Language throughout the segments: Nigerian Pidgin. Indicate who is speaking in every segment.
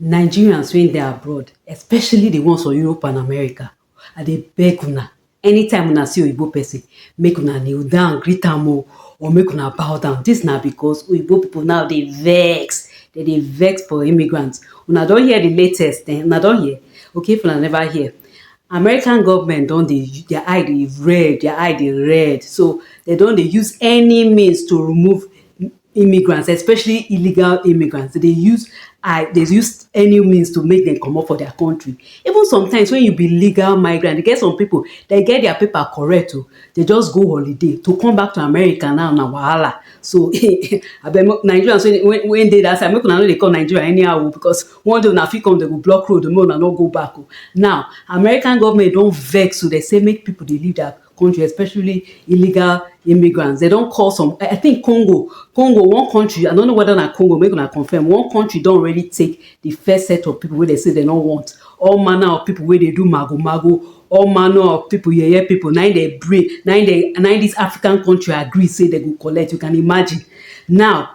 Speaker 1: Nigerians wey dey abroad especially the ones for Europe and America I dey beg una anytime una see oyibo person make una kneel down greet am o or make una bow down this na because oyibo people now dey vex dem dey vex for immigrants una don hear the latest ehn una don hear okay if una never hear American government don dey their eye dey red, their eye dey red. So, they don dey use any means to remove immigrants, especially illegal immigrants. They dey use eye, they use any means to make dem comot for their country. Even sometimes when you be legal migrant, e get some pipu, they get their paper correct oh. They just go holiday, to come back to America now na wahala. So, abeg make Nigerians wey wey wey dey dat side, make una no dey come Nigeria anyhow oh because one day una fit come dem go block road make una no go back o now American government don vex so dem say make people dey leave their country especially illegal immigrants dem don call some I think Congo Congo one country I don't know whether na Congo make una confirm one country don already take the first set of people wey dem say dem no want all manner of people wey dey do mago mago all manner of people yeye people na im dem bring na im dem na im this African country agree say dem go collect you can imagine now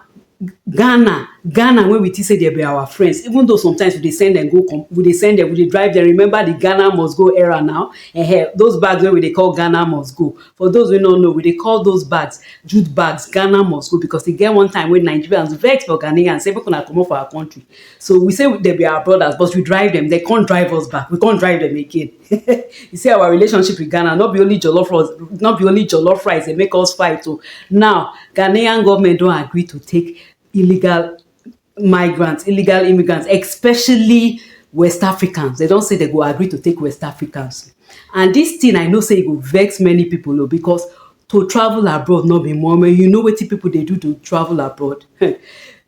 Speaker 1: Ghana, Ghana wey we think say dem be our friends even though sometimes we dey send dem go come, we dey send dem, we dey drive dem, remember the Ghana must go era now um those bags wey we dey call Ghana must go. For those wey no know, we dey call those bags jute bags Ghana must go because e get one time wey Nigerians vex for Ghanaians sey make una comot for our country. So we say dem be our brothers but we drive dem, dem con drive us back, we con drive dem again. you see our relationship with Ghana, not be only jollof rice, not be only jollof rice, they make us fight. So oh. now, Ghanaian government don't agree to take illegal migrants, illegal immigrants, especially West Africans. They don't say they go agree to take West Africans. And this thing, I know say it will vex many people oh, because to travel abroad not be more you know what people they do to travel abroad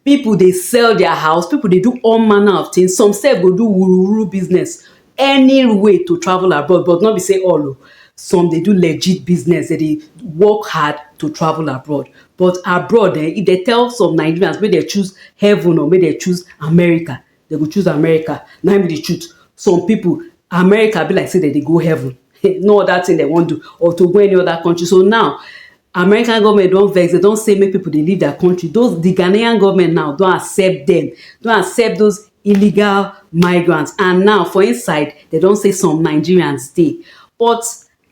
Speaker 1: people they sell their house people they do all manner of things some say go do wuru wuru business any way to travel abroad but no be say all o some dey do legit business dem dey work hard to travel abroad but abroad eh if dem tell some Nigerians make dem choose heaven or make dem choose America dem go choose America na im be the truth some people America be like say dem dey go heaven no other thing dem wan do or to go any other country so now American government don vex, dem don say make people dey leave their country. Those the Ghanaian government now don accept them, don accept those illegal migrants and now for inside dem don say some Nigerians dey. But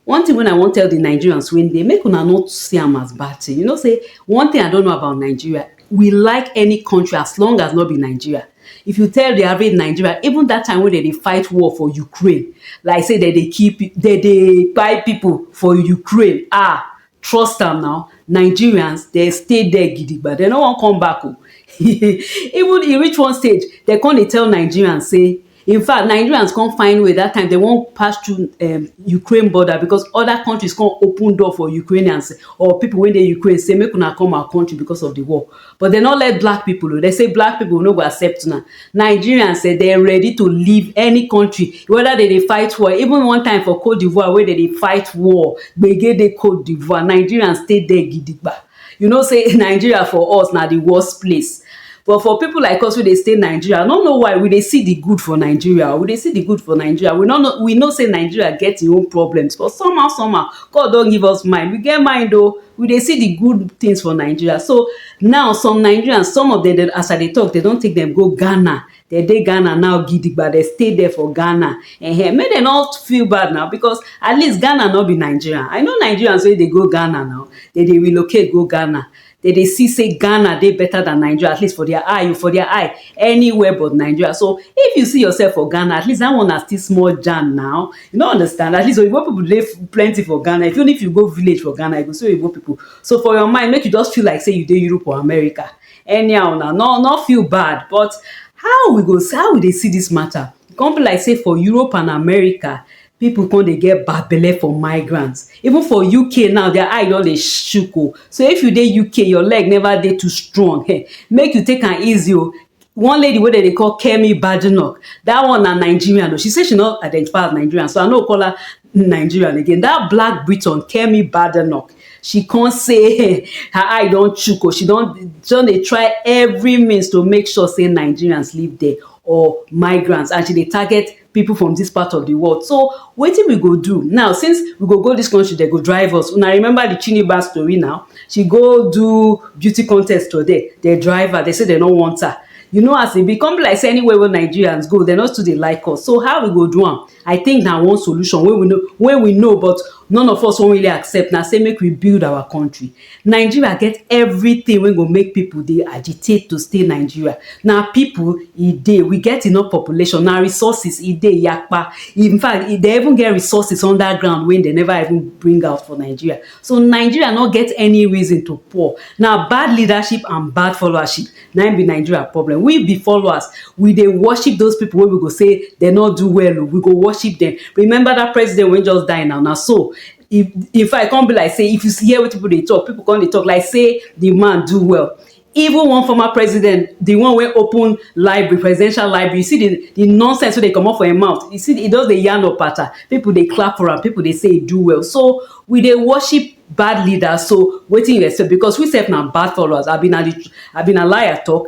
Speaker 1: one thing wey I wan tell the Nigerians wey dey make una no see am as bad thing, you know say one thing I don't know about Nigeria we like any country as long as no be Nigeria. If you tell the average Nigeria, even that time when they dey fight war for Ukraine, like say they dey keep, they dey buy people for Ukraine, ah, trust am now. Nigerians, they stay there gidigba. They no wan come back. Oh. even e reach one stage, they come dey tell Nigerians say, In fact, Nigerians come find way that time they won't pass through um, Ukraine border because other countries come open door for Ukrainians or people when they Ukraine say make una come our country because of the war. But they not let black people. Oh. They say black people no go accept now. Nigerians say they're ready to leave any country, whether they, they fight war. Even one time for Cote d'Ivoire, where they, they fight war, they get the Cote d'Ivoire. Nigerians stay there gidigba. You know say Nigeria for us na the worst place but for people like us wey dey stay Nigeria, I no know why we dey see the good for Nigeria, we dey see the good for Nigeria, we no know, we know say Nigeria get im own problems but somehow somehow God don give us mind, we get mind o, we dey see the good things for Nigeria so now some Nigerians, some of dem as I dey talk dem don take dem go Ghana, dem dey Ghana now gidigba dem stay there for Ghana ehen make dem no feel bad na because at least Ghana no be Nigeria I know Nigerians wey dey go Ghana now dem dey relocate go Ghana dem dey see say Ghana dey better than Nigeria at least for their eye for their eye anywhere but Nigeria so if you see yourself for Ghana at least that one na still small jam na you no understand at least oyibo people dey plenty for Ghana even if you go village for Ghana you go see oyibo people so for your mind make you just feel like say you dey Europe or America anyhow na no no feel bad but how we go how we dey see this matter e come be like say for Europe and America people come dey get bad belle for migrant even for UK now their eye don dey shook o so if you dey UK your leg never dey too strong um make you take am easy o one lady wey dem dey call Kemi Badenoch that one na Nigerian o she say she no identify as Nigerian so I no go call her nigerian again dat black briton kemi badenoch she come say her eye don chook o she don don dey try every means to make sure say nigerians live there or migrants and she dey target people from this part of the world so wetin we go do now since we go go this country they go drive us una remember the chiniba story now she go do beauty contest for there they drive her they say they no want her you know as e be come be like say anywhere wey nigerians go they no too dey like us so how we go do am I think na one solution wey we no wey we know but none of us wan really accept na say make we build our country. Nigeria get everything wey go make people dey agitate to stay Nigeria. Na people e dey, we get enough population, na resources e dey yakpa. In fact, e dey even get resources under ground wey dem never even bring out for Nigeria. So Nigeria no get any reason to poor. Na bad leadership and bad followership Na im be Nigeria problem. We be followers, we dey worship those people wey we go say dem no do well o, we go worship dem. Remember that president wey just die now, na so if in fact, e come be like say if you hear wetin people dey talk, people come dey talk like say the man do well. Even one former president, the one wey open library, presidential library, you see the the nonsense wey dey comot for im mouth, you see, e just dey yarn opata, people dey clap for am, people dey say e do well. So, we dey worship bad leader so wetin you expect because we sef na bad followers abi na the abi na lie I talk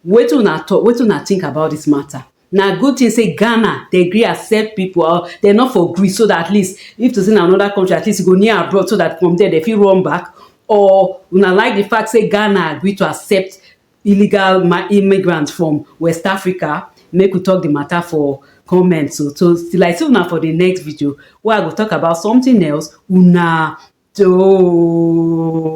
Speaker 1: wetin una talk wetin una think about this matter na good thing say Ghana dem gree accept people or dem no for gree so that at least if to say na another country at least e go near abroad so that from there dem fit run back or una like the fact say Ghana gree to accept illegal immigrants from west africa make we talk the matter for comment so so till i see una for the next video wey i go talk about something else una doh